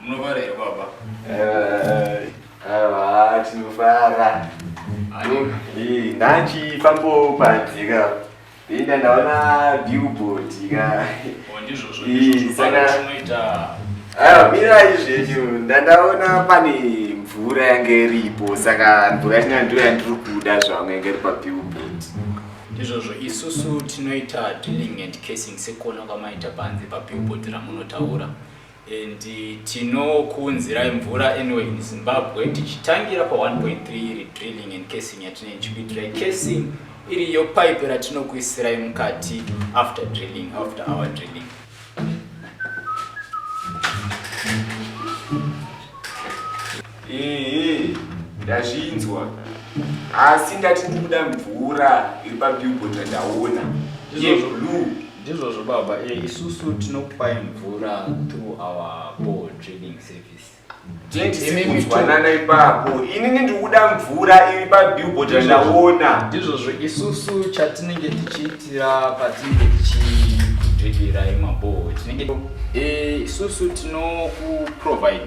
Munovara here baba? Awa tinofara. Eh, ndanchi fambo panzika. Inda ndaona billboard ka. Oh, ndizvozvo Eh, ndizvozvo saka- baba tinoita Awa mirai zvenyu ndandaona pane mvura yange iripo saka mvura yacho ndiyo yandiri kuda zvangu yange iri pabillboard. ndizvozvo isusu tinoita drilling and casing sekuona kwamaita panze pabillboard ramunotaura and tinokuunzirai mvura anyway in zimbabwe tichitangira pa 1.3 iri drilling and casing yatine nchikuitirai casing iriyo pipe ratinokuisirai mukati after drilling after our drilling ehe ndazvinzwa asi ndati ndikuda mvura iri pabillboard randaona yeblue Ndizvozvo baba, eh, isusu tinokupai mvura through our ball trading service. Tinzwanana ipapo. Inini ndiri kuda mvura iri pabillboard yandaona. Ndizvozvo isusu chatinenge tichiitira patinenge tichikudredirai maball. Tinenge eh, isusu tinokuprovide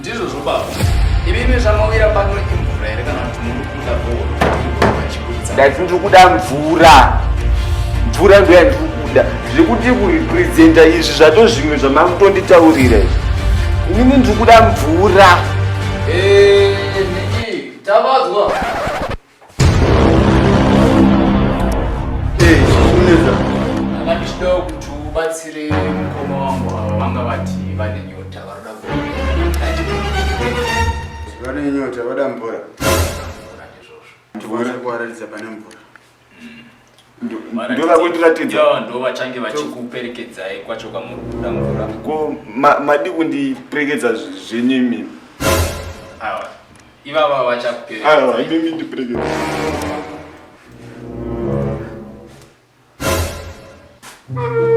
Ndizvo zvobaba. Imimi zvamawira pano imvura here kana kuti muri kuda bhora? Ndati ndiri kuda mvura. Mvura ndo yandiri kuda. Zviri kuti kurepresenta izvi zvato zvimwe zvamamutonditaurira izvi. Imimi ndiri kuda mvura. Eh, Niki, tavadzwa. vabatsire mukoma wangu ava vanga vati vane nyota varoda vane nyota vada mvura ndikuratidza pane mvura ndoda kundiratidza yo ndo vachange vachikuperekedzai kwacho kwamuri kubuda mvura ko madi kundiperekedza zvenyu imimi awa ivava vachakuperekedza imimi ndiperekedza Thank you.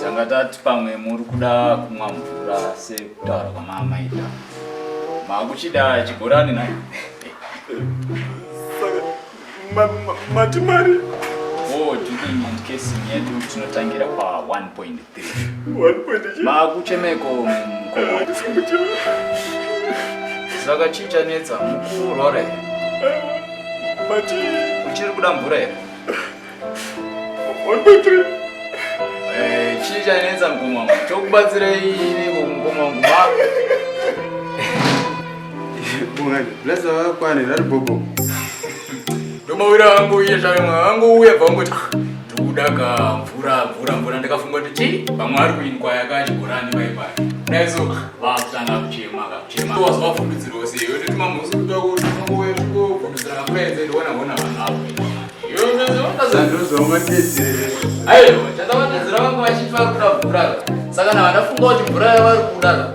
tanga tati pamwe muri kuda kumwa mvura sekutaura kwamaamaita makuchida chibhorani na mati mari o oh, drinking and casing yedu tinotangira pa 1.3 makuchemeko saka chii chanetsa mukurora here uchiri kuda mvura here eh, chii chanetsa mukoma wangu chokubatsirei iniko mukoma wangu blesa vakwane rari bobo ndomawira vangu uye zvayo mwa vangu uye bva ungoti Kuda ka mvura mvura mvura ndakafunga kuti chii pamwe ari kuinkwa yakachibhorani paipai dai so vakutanga kuchema kakuchema wazi vafundudzirwa sei yoti timamusi kutoa kuti unongofundudzira kamvura yenze ndiona hona vanhu avo aiwa chandavadedzera vangu vachifa kuda mvura saka navadafunga kuti mvura yavari kuda